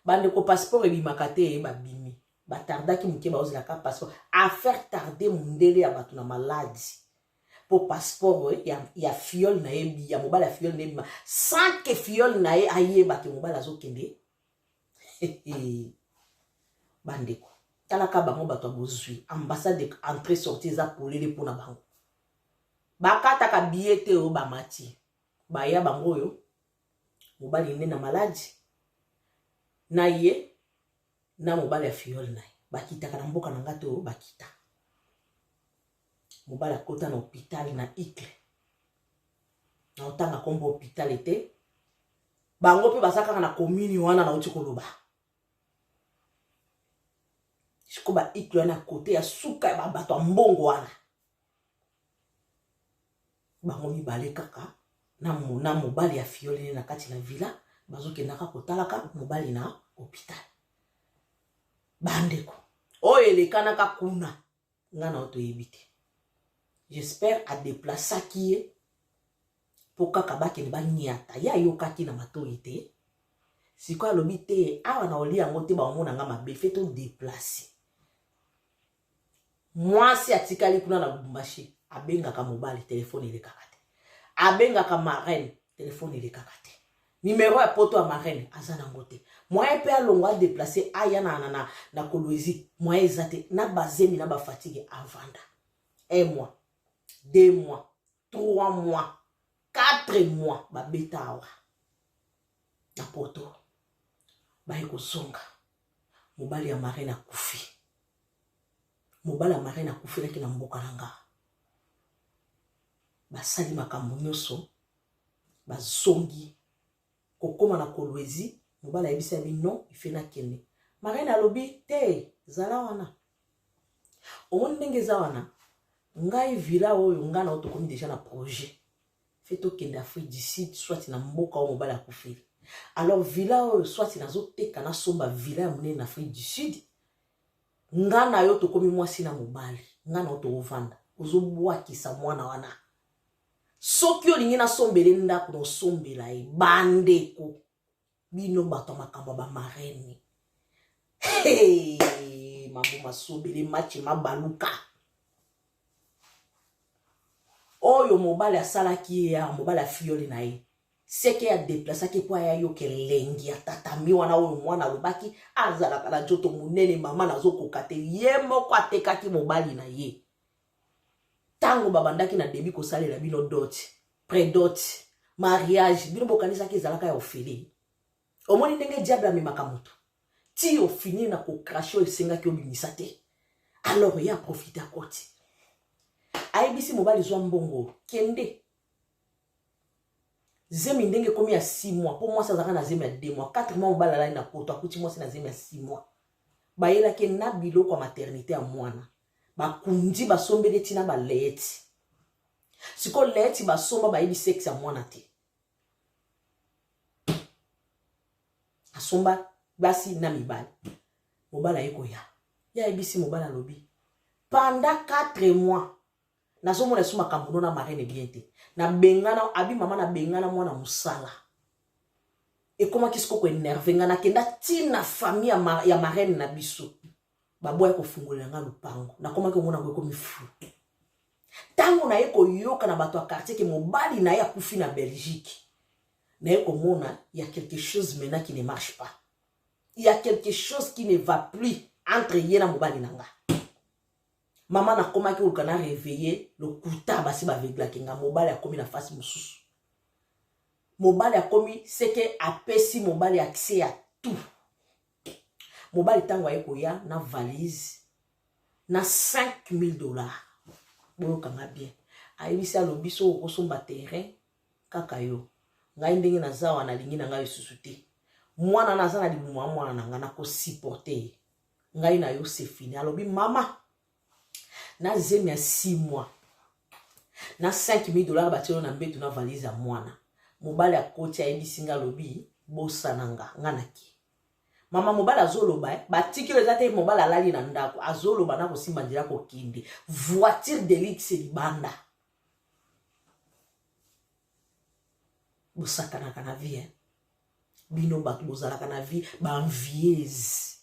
bandeko passeport ebimaka te ye babimi batardaki moke baozelaka passeport affaire tarde mondele ya bato na maladi mpo passeport eh, ya, ya fiole na ye ya mobali ya fiole na ye bima sans ke fiole na ye ayeba ke mobali azokende bandeko talaka bango bato ya bozwi ambassade entrée sortie eza polele mpo na bango bakataka biye te oyo bamati baya bango oyo mobali nde na maladi na ye na mobali ya fiole na ye bakitaka na mboka na ngai to bakita mobali akota na hôpital na icle na otanga nkombo hôpital ete bango mpe baza kaka na commune wana nauti koloba siko ba icle wana kote ya suka ya babato ya mbongo wana bango mibale kaka na mobali ya fiole ne na kati na villa bazokendaka kotalaka mobali na hopital bandeko oyo elekanaka kuna nga na yo toyebi te j'espère adeplasaki ye mpo kaka bakende baniata ye ayokaki na matoi te sikoyo alobi te awa na oli yango te baomona nga mabe fe todeplace mwasi atikali kuna na lubumbashi abengaka mobali telefone elekaka te abengaka marraine telefone elekaka te nimero ya poto ya marraine aza nango te moyen mpe alongo adeplace aya na, na, na, na kolwezi moyen eza te na bazemi na bafatigue avanda un mois deux mois 3 mois 4 mois babeta awa na poto baye kozonga mobali ya mare na kufi mobali ya mare na kufelaki na mboka na nga basali makambo nyonso bazongi kokoma na kolwezi mobali ayebisi yabi non ife nakende marine alobi te zala wana omoni ndenge eza wana ngai villa oyo ngai nao tokomi deja na projet fe tokende afrique du sud soit na mboka oyo mobali akufeli alors villa oyo soit nazoteka nasomba villa ya monene na afrique du sud ngai na yo tokomi mwasi na mobali ngai nao tokovanda ozobwakisa mwana wana soki olingi nasombele ndako naosombela ye bandeko bino bato ya makambo ya bamarene hey, mambo masobele match mabaluka oyo mobali asalaki ye ya mobali afiyoli na ye seke ya deplasaki mpo aya yoka elengi ya tatami wana oyo mwana alobaki azalaka na nzoto monene mama nazokoka te ye moko atekaki mobali na ye ntango babandaki na debi kosalela bino dot predot mariage bino bokanisaki ezalaka ya ofele omoni ndenge diable amemaka moto ti ofini na kokrashe oyo esengaki obimisa te alors ye aprofite akoti ayebisi mobali zwa mbongo kende zemi ndenge ekomi ya 6 mois mpo mwasi azalaka na zemi ya 2 mois 4 mois mobali alali na poto akuti mwasi na zemi ya 6 mois bayelaki na biloko ya maternité ya mwana bakundi basombeli tina baleeti siko leeti basomba bayebi sexe ya mwana te asomba basi na mibali mobali aye koya ye ayebisi mobali alobi panda 4 mois nazomona esu makambo no na marene bien te nabengana abi mama nabengana mwana mosala ekomaki siko koenerve ngai nakenda ntina famille ya marene na biso baboya kofungolela nga lopango nakomaki omona yango ekomi fou ntango naye koyoka na bato ya quartier ke mobali na ye akufi na belgique naye komona ya quelque chose maintenant qui ne marche pas ya quelque chose qui ne va plus entre ye na mobali na nga mama nakomaki koluka na reveille lokuta basi baveglaki nga mobali akomi na fasi mosusu mobali akomi seke apesi mobali accès ya tout mobali ntango aye koya na valise na 5000 dollars boyokanga bien ayebisi alobi so okosomba terrain kaka yo ngai ndenge naza wana nalingi na ngai lisusu te mwana na aza na libumu ya mwana na ngai nakosupporte ye ngai na yo sefini alobi mama na zemi ya 6 mois na 5000 dollars batielo na mbetu na valise ya mwana mobali akoti ayebisi nga alobi bosana nga nga nake mama mobali azoloba eh, batikelo eza te mobali alali na ndako azoloba na kosimba nzela kokende voiture delix libanda bosakanaka na vie eh? bino bato bozalaka na vie baenvieuse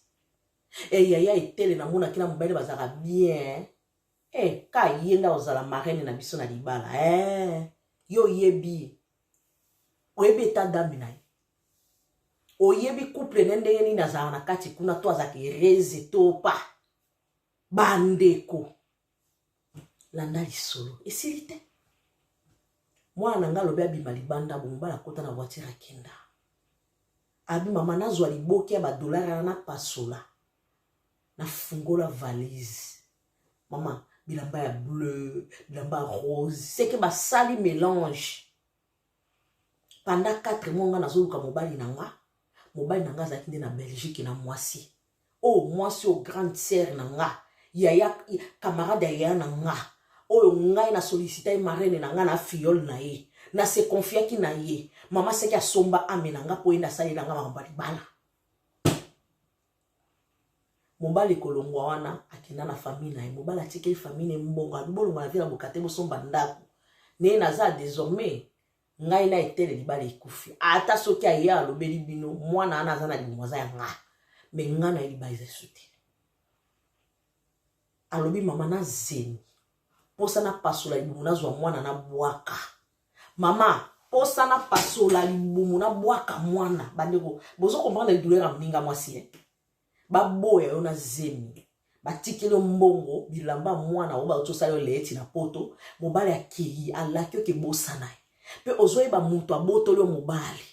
Eh yaya etele na mona kina mobali bazaka bien. Eh ka yenda ozala marraine na biso na libala. Eh yo yebi. Oyebi eta dame na ye. Oyebi couple ne ndenge nini azala na kati kuna to azaki reze to pa. Bandeko. landa lisolo esili te mwana na ngai alobi abima libanda bomobala akota na voitire akenda abi mama nazwa liboki ya badolare wana napasola nafungola valise mama bilamba ya bleu bilamba ya rose seke basali melange pendant 4 mois nga nazoluka mobali na nga mobali na nga azalaki nde na belgique na mwasi oyo oh, mwasi oyo oh, grande sere na nga yaya camarade ya yaya na nga oyo ngai na sollicita ye marraine na ngai na fiole na ye na se confiaki na ye mama seki asomba ame na ngai mpo yende asaleli na ngai makambo ya libala mobali kolongwa wana akenda na famille na ye mobali atikeli famille na ye mbongo abi bolongwa na vila bokate bosomba ndako naye naza désormais ngai na etele libala ekufi ata soki aye alobeli bino mwana wana aza na libumu aza ya nga me nga na ye libala eza esu te alobi mama na zemi posa na pasola libumu nazwa mwana na bwaka mama posa na pasola libumu na bwaka mwana bandeko bozo comprendre douleur ya moninga mwasi ye baboya yo na zemi batikeli yo mbongo bilamba mwana oyo bauti osala yo leeti na poto mobali akei alaki oke bosana ye mpe ozoyeba moto abotoli yo mobali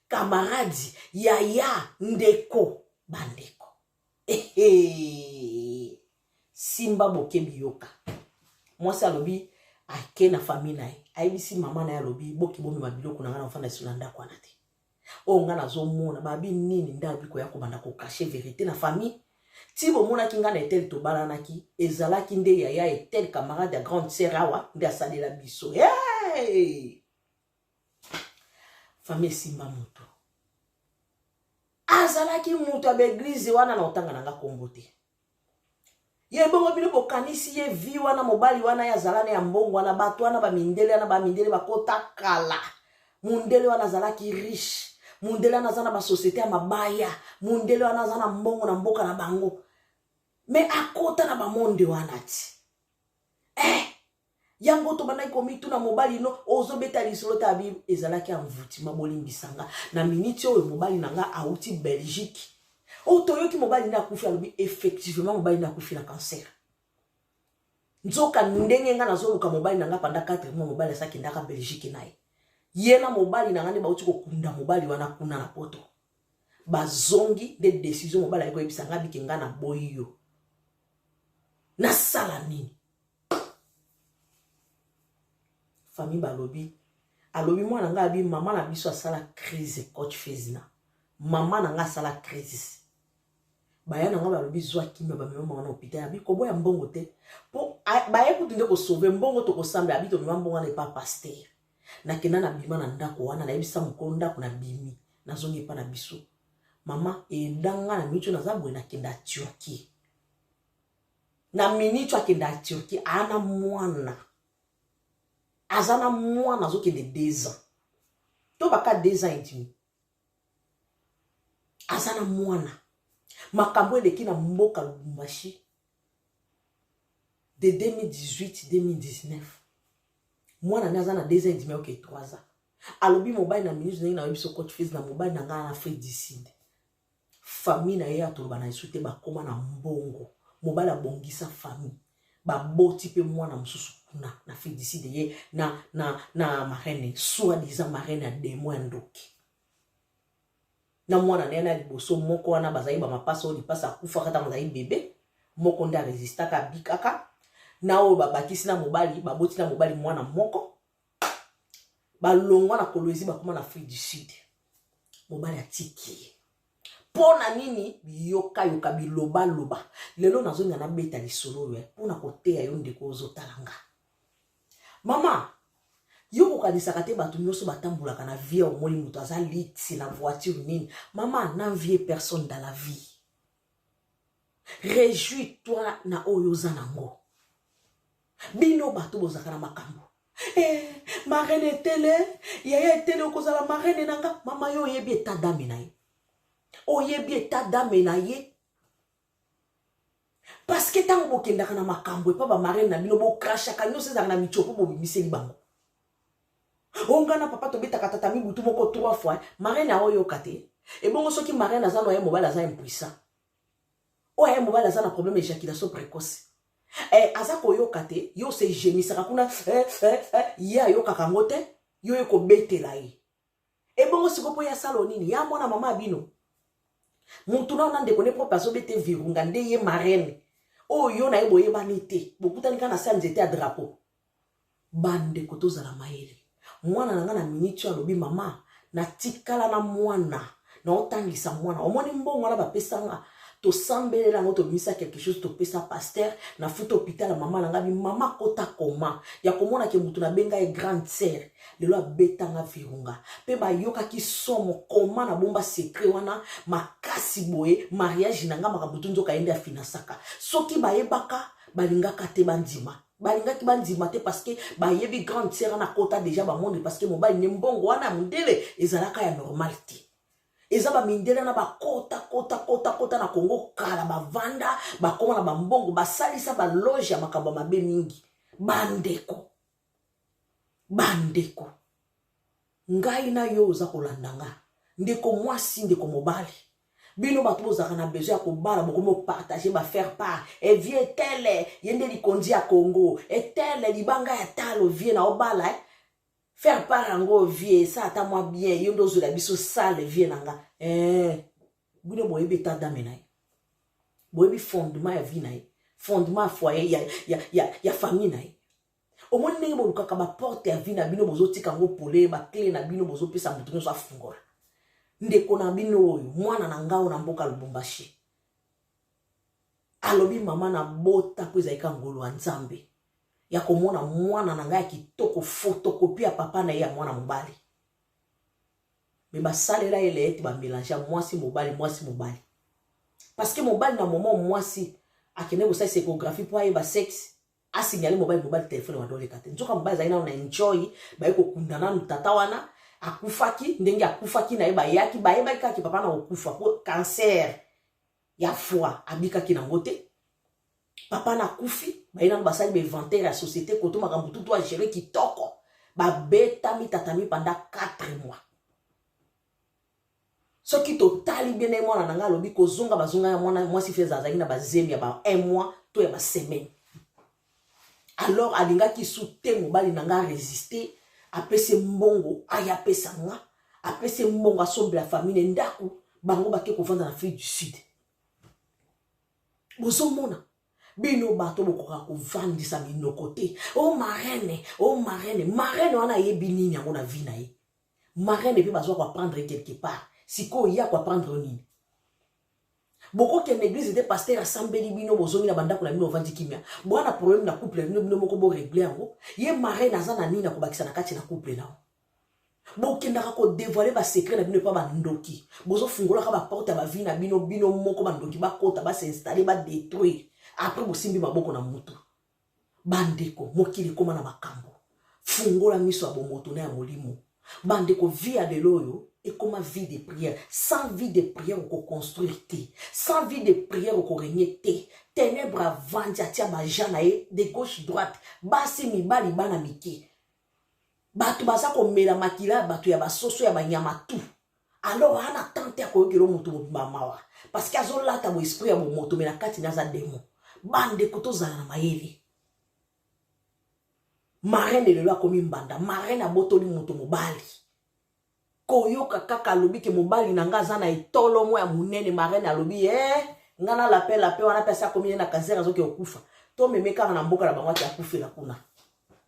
kamaradi yaya ndeko bandeko Ehe. Simba bokebi yoka. Mwasi alobi ake na famille na ye. Ayebisi mama na ye alobi boki bomema biloko na ngai na ofanda sila ndako wana te. Oyo ngai nazomona babi nini nde alobi koya kobanda kokache verite na famille. Ti bomonaki ngai na etel tobalanaki ezalaki nde yaya etel camarade ya grande sœur awa nde asalela biso. Hey! fami esimba moto azalaki moto ya baeglize wana na otanga na nga kombo te ye bongo bino bokanisi ye vi wana mobali wana ye azala na ya mbongo wana bato wana bamindele wana bamindele bakota kala mondele wana azalaki riche mondele wana aza na basosiete ya mabaya mondele wana aza na mbongo na mboka na bango me akota na bamonde wana ti eh, yango tobandaki komituna mobali no ozobeta lisolo ta bible ezalaki envoutima bolimbisa nga na miniti oyo mobali na nga auti belgique oyo oh, toyoki mobali nde akufi alobi effectivement mobali nde akufi na cancer nzoka ndenge nga nazoluka mobali na nga panda 4 mois mobali asakendaka belgique na ye ye na mobali na nga nde bauti kokunda mobali wana kuna na poto bazongi nde desizio mobali ayaki koyebisa nga bike nga na boyi yo nasala nini famille balobi alobi mwana ngai abi mama na biso asala crise coach fezina mama na ngai asala crise baya na ngai balobi zwa kimia bamema mama na hopital abi koboya mbongo te mpo baye kutu nde kosauve mbongo tokosamba abi tomema mbongo wana epa paster nakenda na bima na ndako wana nayebisa mokolo ndako na bimi nazongi epa na biso mama edanga na micho naza boye nakenda turquie na minitu akendaka turquie aa na mwana aza na mwana azokende deux ans to baka deux ans edimi aza na mwana makambo eleki na mboka lubumbashi de 2018-2019 mwana nde aza na deux ans edimi oke 3 ans alobi mobali na minute ndenge nayebi biso coach fils na mobali na ngai na afrique du sud famille na ye atoloba na yesu te bakoma na mbongo mobali abongisa famille baboti mpe mwana mosusu kuna na fidiside ye na, na, na marraine soit disant marraine ya demo ya ndoki na mwana na ye na liboso moko wana bazali bamapasa oyo lipasa akufaka ntango azali bebe moko nde aresistaka abikaka na oyo babakisi na mobali baboti na mobali mwana moko balongwa na kolwezi bakoma na afrique du sud mobali atiki ye mpo na nini biyokayoka bilobaloba lelo nazonga nabeta lisolo oyo eh, mpo na koteya yo ndeko ozotala nga mama yo kokanisaka te bato nyonso batambolaka na vie omoni moto aza liti na voiture nini mama na vie personne dans la vie rejui toi na oyo oza nango bino bato bozalaka na makambo eh, marene etele yaya etele okozala marene na nga mama yo oyebi eta dame na ye oyebi eta dame na ye parceke ntango bokendaka na makambo epa bamarene na bino bokrashaka nyonso ezalaka na mitio mpo bobimiseli bango onga na papa tobetaka tata mibutu moko trois fois marene aoyoka te ebongo soki marene aza noye mobali aza impuissant oyo aye mobali aza na problème éjaculation précoce eh, aza koyoka te yo se gemisaka kuna eh, eh, eh, ye ayokaka yango te yo ye kobetela ye ebongo siko mpo ye asala nini ya mwana mama bino mutu nao na ndeko ne propre azobete virunga nde ye marraine oyo yo na ye boyebani te bokutani kaka na se ya nzete ya drapeau Bandeko tozala mayele. Mwana na nga na minute oyo alobi mama natikala na mwana naotangisa mwana omoni mbongo wana bapesa nga tosambeleli yango tobimisa quelque chose topesa paster nafuta hôpital ya mama na nga bi mama kota koma ya komona ke motu nabenga ye grande sœur lelo abetanga virunga mpe bayokaki somo koma nabomba secret wana makasi boye mariage na nga makambo tu nzoka ye nde afinansaka soki bayebaka balingaka te bandima balingaki bandima te parceke bayebi grande sere na kota deja bamoni parceke mobali ne mbongo wana ya mondele ezalaka ya normal te eza bamindele na bakota kota kota kota na kongo kala bavanda bakoma na bambongo basalisa baloge ya makambo ya mabe mingi bandeko bandeko Ngai na yo oza kolanda nga. Ndeko mwasi, ndeko mobali. Bino bato bozalaka na besoin ya kobala bokomi opartage bafaire part evie eh, tele ye nde likonzi ya congo etele eh, libanga ya talo vie na obala eh? faire part yango vie esa ata mwa bien yo nde ozwela biso sale vie na nga eh. bino boyebi eta dame na ye boyebi fondement ya vie na ye fondement ya foyer ya, ya, ya, ya famille na ye omoni ndenge bolukaka baporte ya vie na bino bozotika yango pole bakle na bino bozopesa moto nyonso afungola ndeko na bino oyo mwana na ngao na mboka lubumbashi alobi mama na bota mpo ezalika ngolu ya nzambe ya komona mwana na ngai ya kitoko fotokopi ya papa na ye ya mwana mobali me basalela ye leete bamelange ya mwasi mobali mwasi mobali parceke mobali na momo mwasi akende kosalisa ekografi mpo ayeba sexe asignale mobali mobali telefone wanda oleka te nzoka mobali azali nano na enjoy baye kokunda nanu tata wana akufaki ndenge akufaki na ye bayaki bayebaki kaka papa na kokufa mpo kanser ya foi abikaki nango te papa na kufi baye nano basali bainventaire ya société koto makambo tutu agere kitoko babetami tatami panda 4 mois soki totali bien na ye mwana na ngai alobi kozonga bazonga ya mwana mwasi fez azalaki na bazemi ya ba un mois to ya basemaine alors alingaki su te mobali na ngai aresiste apesi mbongo aya apesa nga apesi mbongo asombela famille ne ndako bango bake kovanda na afrique du sud bozomona bino bato bokoka kovandisa minoko te o oh, marene o oh, marene marene wana ayebi nini yango na vi na ye marraine mpe bazo koapprendre ye quelque part sikoyo ye akoapprendre yo nini bokokende eglise te paster asambeli bino bozongi na bandako na bino ovandi kimia boa na problème na couple na bino bino moko boregle yango ye marraine aza na nini na kobakisa na kati na couple na yo bokendaka kodevoile basecret na bino epa bandoki bozofungolaka baporte ya bavie na bino bino moko bandoki bakota basinstalle badetruire après bosimbi maboko na mutu Bandeko, mokili ekoma na makambo. Fungola miso ya bomoto na ya molimo. Bandeko, vie ya lelo oyo ekoma vie de prière. Sans vie de prière okoconstruire te. Sans vie de prière okoregne te. Tenebre avandi atia baja na ye de gauche droite, basi, mibali, bana mike. Bato baza komela makila ya bato ya basoso ya banyama tout. alors aa na temps te akoyokela moto mobimba mawa parceke azolata boesprit ya bomoto me na kati na aza demo bandeko tozala na mayele marene lelo akomi mbanda marene abotoli moto mobali koyoka kaka alobi ke mobali na ngai aza na etolo mwa ya monene marene alobi e eh, ngai na lape lape wana mpe asi akomi ye na kanser azoki okufa tomeme kaka na mboka na bango ati akufela kuna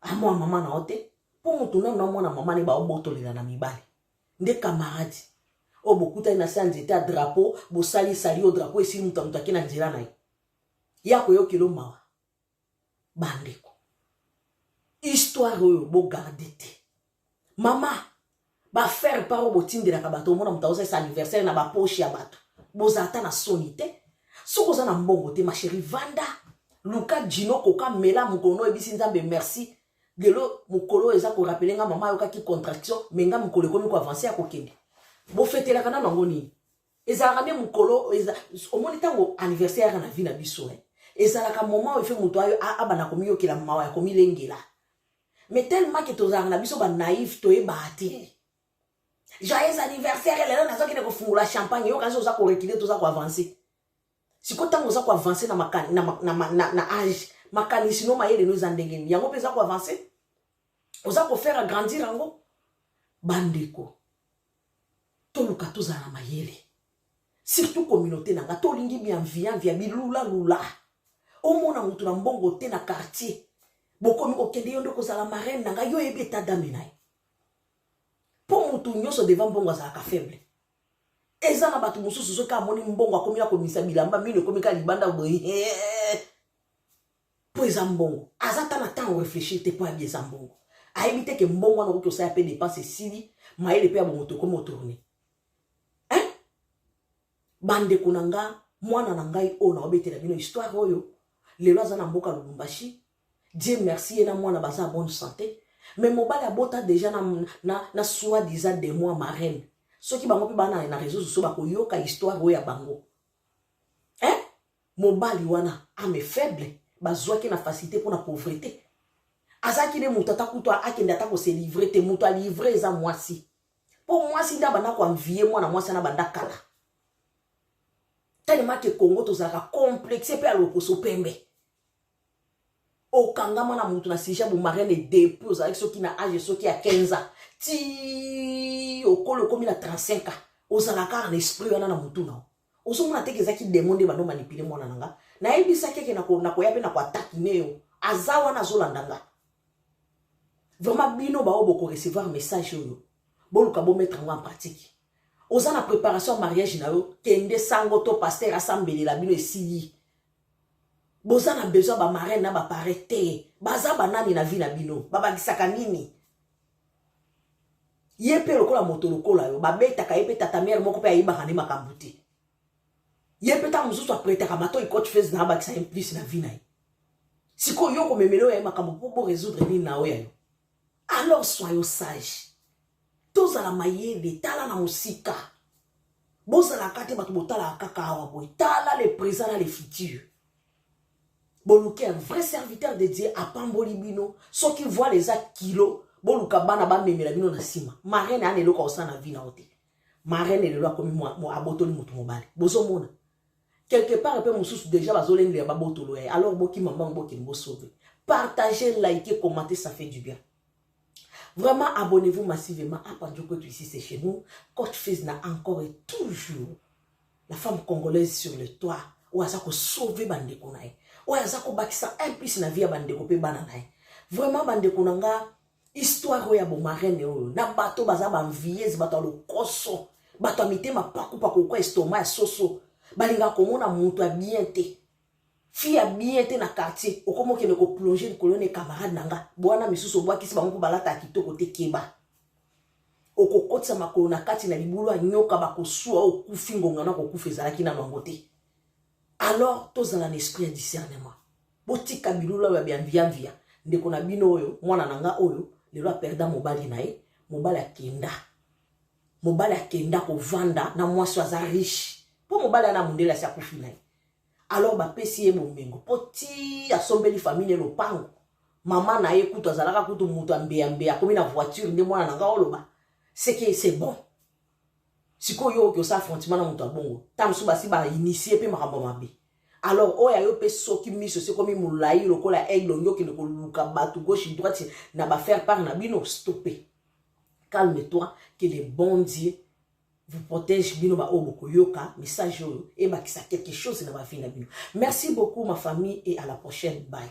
amona ah, mama na yo te mpo moto nano amona mama ne baobotolela na mibali nde kamaradi oyo oh, bokutani na se ya nzete ya drapo bosali esali yo drapo esili moto ya moto ake na nzela na ye ye akoyokela o mawa bandeko histoire oyo bogarde te mama bafaire part oyo botindelaka bato omona moto aosalisa anniversaire na bapoche ya bato boza ata na soni te soki oza na mbongo te masheri vanda luka jino koka mela mokolo no oyebisi nzambe merci lelo mokolo oyo eza korapele nga mama ayokaki contraction me nga mokolo ekomi koavanse ya kokende bofetelaka nano yango nini ezalaka nde mokolo omoni ntango anniversaire yaka na vie na biso eh. ezalaka moment oyo efe moto abanda komiyokela mawa ya komilengela mais tellement ke tozalaka na biso banaïve toyebaa te joyeux anniversaire lelo nazokende kofungola champagne yo kasi oza korecule toza koavance sikoyo ntango oza koavance na, maka, na, na, na, na, na age makanisi no mayele no eza ndenge nini yango mpe eza koavance oza kofaire agrandir yango bandeko toluka tozala na mayele surtout communauté na nga to lingi bienviant via bilula lula omona mutu na mbongo te na quartier bokomi kokende yo nde kozala marraine na nga yo oyebi eta dame na ye mpo mutu nyonso devant mbongo azalaka faible eza na bato mosusu soki amoni mbongo akomi ya komisa bilamba mino ekomi ka libanda boye mpo eza mbongo aza ta na temps oreflechir te mpo ayebi eza mbongo ayebi te ke mbongo wana okoki osala mpe depense esili mayele mpe ya bomoto ekomi otourne hein bandeko na nga mwana na ngai oyo naobetela bino histoire oyo lelo aza na mboka lubumbashi dieu merci ye na mwana baza ya bonne santé mais mobali abota deja na, na, na soi disa de moi marraine soki bango mpe bana na réseau sociaux bakoyoka histoire oyo ya bango hein mobali wana ame faible bazwaki na facilité mpo na pauvrete azalaki nde moto ata kutu akende ata koselivre te moto alivre eza mwasi mpo mwasi nde abanda koanvie mwana mwasi ana banda kala telema ke congo tozalaka complexe mpe alokoso pembe okangama na motu na sija bomarene depuis ozalaki soki na age soki ya 15 ans ti okoli okomi na 35 ans ozalaka na esprit wana na motu nao ozomona teke eza ki demo nde bando manipile mwana na nga nayebisaki eke nakoya mpe nako atakine yo aza wana azolanda nga vraiment bino baoyo bokorecevoir message oyo boluka bomettre yango en pratique oza na préparation ya mariage na yo kende sango to paster asambelela bino esili boza na besoin bamaraine na bapare te baza banani na vie na bino babakisaka nini ye mpe lokola moto lokola yo babetaka ye mpe tata mere moko mpe ayebaka nde makambo te ye mpe ntango mosusu apretaka matoi cote fese na abakisa ye mplisi na vi na ye sikoyo yo komemele oyo ya ye makambo mpo bo résoudre nini na oyo ya yo alors soyo sage tozala mayele tala na mosika bozalaka te bato botalaka kaka awa boye tala le présent na le futur boluki un vrai serviteur de dieu apamboli bino soki voile eza kilo boluka bana bamemela bino na nsima marene ana eloko akosala na vi na yo te marene lelo akomi abotoli motu mobali bozomona quelque part mpe mosusu deja bazolengela babotolo ya ye alors bokima mbango bokende bosove partage like commente ça fait du bien Vraiment, abonnez-vous massivement à Pandjoukoutou ici, c'est chez nous. Coach Fizna encore et toujours la femme congolaise sur le toit. Ou aza ko sauver bandeko na ye. Ou aza ko bakisa un plus na vie ya bandeko pe bana na ye. Vraiment bandeko na nga histoire oyo ya bomarene oyo na bato baza banvieuse bato ya lokoso bato ya mitema pakupaku kwa estoma ya soso balingaka komona moto ya bien te fille ya bien te na quartier okomi okende koplonger likolo ne camarade na nga bwana misusu obwakisi bango mpo balata ya kitoko te keba okokotisa makolo na kati na libulu ya nyoka bakosua okufi ngonga na kokufa ezalaki nano yango te alors tozala na esprit ya discernement botika bilula oyo ya biamviamvia ndeko na bino oyo mwana na nga oyo lelo aperda mobali na ye mobali akenda mobali akenda kovanda na mwasi oyo aza riche mpo mobali ana mondele asi akufi na ye alors bapesi ye bomengo mpo ti asombeli famille lopango mama na ye kutu azalaka kutu moto ambeyambeya akomi na voiture nde mwana na ngai oloba seke se bon sikoyo yo oki osa affrontement na moto ya bongo ntango mosusu basi bainitie mpe makambo mabe alors oyo ayo mpe soki miso sekomi molai lokola aigle olingi okende koluka bato gauche droite na bafaire part na bino stope calme toi que le bon dieu vous protège bino ba oyo bokoyoka message oyo ebakisa quelque chose na ba vie na bino merci beaucoup ma famille et à la prochaine bye